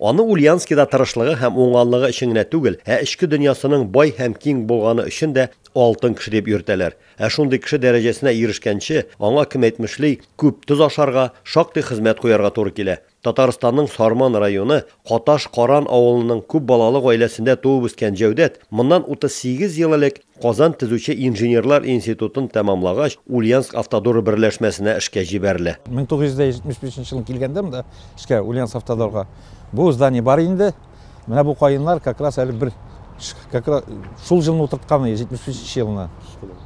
Аны Ульянскида тырышлыгы һәм уңганлыгы өчен генә түгел, ә эчке дөньясының бай һәм киң булганы өчен дә алтын кеше дип йөртәләр. Ә шундый кеше дәрәҗәсенә ирешкәнче, аңа, кем әйтмешли, күп тоз ашарга, шактый хезмәт куярга туры килә. Татарстанның Сарман районы Каташ Каран авылының күп балалы гаиләсендә туып үскән Җәүдәт моннан 38 ел элек Казан төзүче инженерлар институтын тәмамлагач, Ульяновск-Автодоры берләшмәсенә эшкә җибәрелә. 1975 нче елны килгәндә монда эшкә, Ульяновск-Автодорга, бу здание бар инде. Менә бу каеннар как раз әле бер как раз шул җылны утыртканы, 75 нче елны.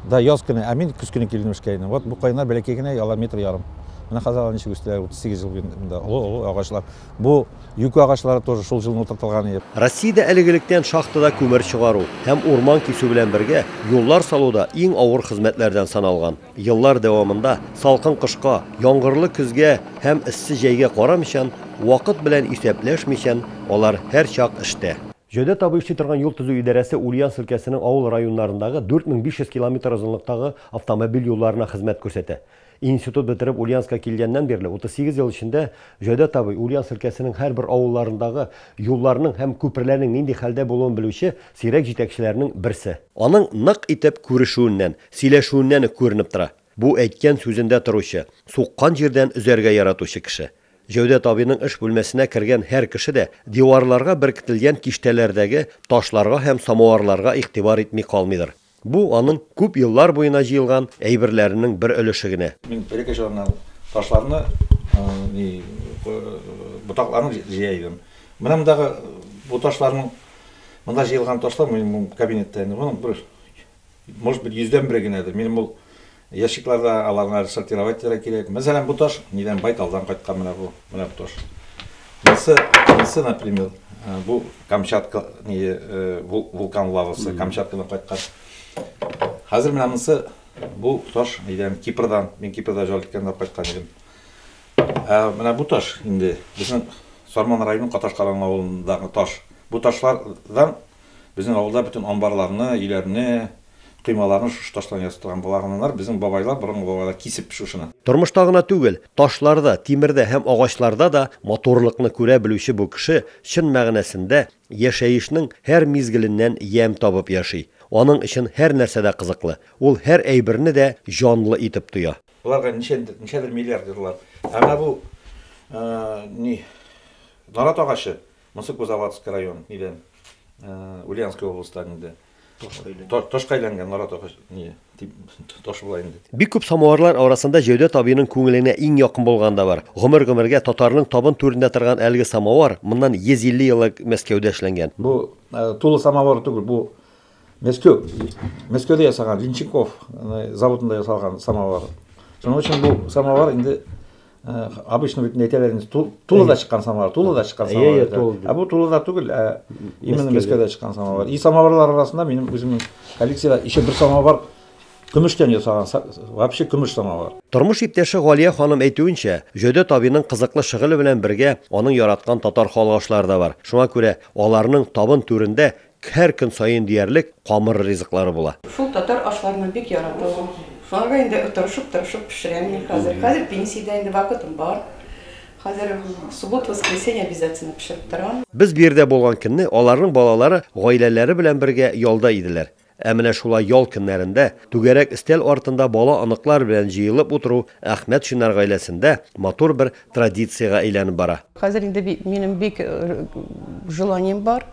Да, яз көне, ә мин көз көне килдем эшкә инде. Вот бу каеннар бәләкәй генә, алар метр ярым. Менә хәзер алар ничек үстеләр, 38 ел буе монда олы-олы агачлар. Бу юкә агачлары тоже шул җылын утыртылган иде. Россиядә әлегелектән шахтада күмер чыгару һәм урман кисү белән бергә, юллар салу да иң авыр хезмәтләрдән саналган. Еллар дәвамында, салкын кышка, яңгырлы көзгә һәм эссе җәйгә карамыйчан, вакыт белән исәпләшмичән, алар һәрчак эштә. Җәүдәт абый эшли торган юл төзү идарәсе Ульяновск өлкәсенең авыл районнарындагы 4500 километр озынлыктагы автомобиль юлларына хезмәт күрсәтә. Институт бетереп Ульяновска килгәннән бирле 38 ел эчендә Җәүдәт абый Ульяновск өлкәсенең һәрбер авылларындагы юлларның һәм күперләрнең нинди хәлдә булуын белүче сирәк җитәкчеләрнең берсе. Аның нык итеп күрешүеннән, сөйләшүеннән үк күренеп тора, бу әйткән сүзендә торучы, суккан җирдән өзәргә яратучы кеше. Җәүдәт абыйның эш бүлмәсенә кергән һәр кеше дә диварларга беркетелгән киштәләрдәге ташларга һәм самоварларга игътибар итми калмыйдыр. Бу, аның күп еллар буена җыелган әйберләренең бер өлеше генә. Мин элекке чорымнан ташларны, ботакларны җыя идем. Менә мондагы бу ташларның, монда җыелган ташлар, минем бу кабинетта инде, моның бер, может быть, йөздән бере генәдер. Минем ул. Ящикларда аларны әле сортировать итәргә кирәк. Мәсәлән, бу таш нидән? Байталдан кайткан менә бу. Менә бу таш. Монысы, монысы, например, бу Камчатка ние вулкан лавасы, Камчаткадан кайткан. Хәзер менә монысы бу таш нидән? Кипрдан. Мин Кипрда җал иткәндә кайткан идем. Ә менә бу таш инде безнең Сарман районының Каташкалан авылындагы таш. Бу ташлардан Безнең авылда бөтен амбарларны, өйләрне, коймаларны шушы таштан ясатылган балаганнар, безнең бабайлар, борынгы бабайлар кисеп шушыны. Тормышта гына түгел, ташларда, тимердә һәм агачларда да матурлыкны күрә белүче бу кеше, чын мәгънәсендә, яшәешнең һәр мизгеленнән ямь табып яши. Аның өчен һәр нәрсә дә кызыклы. Ул һәр әйберне дә җанлы итеп тоя. Боларга ничәдер, ничәдер миллиард еллар. Ә менә бу, ни, нарат агачы, Монсы Кузоватск район нидән, Ульянская областан инде. Ташка әйләнгән нарат агач, ни, таш була инде. Бик күп самоварлар арасында Җәүдәт абыйның күңеленә иң якын булганы да бар. Гомер-гомергә татарның табын түрендә торган әлеге самовар моннан 150 ел элек Мәскәүдә эшләнгән. Бу тулы самовар түгел, бу Мәскеу. Мәскеуде ясаган Винченков заводында ясалган самовар. Шуның өчен бу самовар инде обычно бит әйтәләр инде тулы да чыккан самовар, тулы да чыккан самовар. Ә бу тулы да түгел, ә именно Мәскәүдә чыккан самовар. И самоварлар арасында минем үземнең коллекциядә еще бер самовар көмештән ясаган, вообще көмеш самовар. Тормыш иптәше Галия ханым әйтүенчә, Җөдә табиның кызыклы шөгыле белән бергә аның яраткан татар халык ашлары да бар. Шуңа күрә аларның табын түрендә Һәр көн саен диярлек камыр ризыклары була. Шул татар ашларына бик яраталар. Шуларга инде тырышып-тырышып пешерәм мин хәзер. Хәзер пенсиядә инде, вакытым бар. Хәзер суббот-воскресенье обязательно пешереп торам. Без бу йирдә булган көнне аларның балалары гаиләләре белән бергә ялда иделәр. Ә менә шулай ял көннәрендә түгәрәк өстәл артында бала-оныклар белән җыелып утыру Әхмәтшиннар гаиләсендә матур бер традициягә әйләнеп бара. Хәзер инде минем бик желанием бар,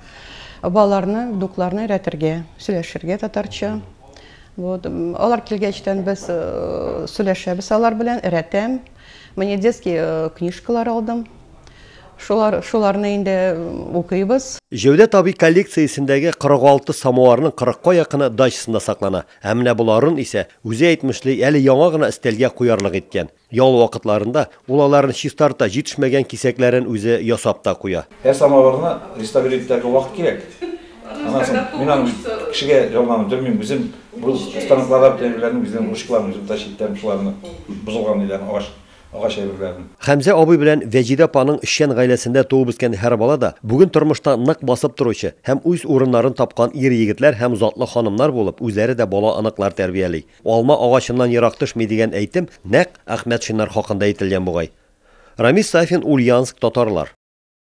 балаларны, внукларны өйрәтергә, сөйләшергә татарча. Вот. Алар килгәчтән без сөйләшәбез алар белән, өйрәтәм. Менә детский книжкалар алдым. Шулар, шуларны инде укыйбыз. Җәүдәт абый коллекциясендәге 46 самоварның кырыкка якыны дачасында саклана. Ә менә боларын исә, үзе әйтмешли, әле яңа гына өстәлгә куярлык иткән. Ял вакытларында ул аларны чистарта, җитешмәгән кисәкләрен үзе ясап та куя. Ә самавырны реставрир итәргә вакыт кирәк. Аннан соң мин аны бит кешегә ялганып белмим, үзем бу станокларда бит әйберләрне үзем ручкаларын үзем тащи итәм, шуларны бозылган ниләрне, агач агач әйберләрен. Хәмзә абый белән Вәҗидә апаның эшчән гаиләсендә туып-үскән һәр бала да бүген тормышта нык басып торучы һәм үз урыннарын тапкан ир-егетләр һәм затлы ханымнар булып, үзләре дә бала-оныклар тәрбияли. Алма агачыннан ерак төшми дигән әйтем нәкъ Әхмәтшиннар хакында әйтелгән бугай. Рамис Сафин Ульянск татарлар.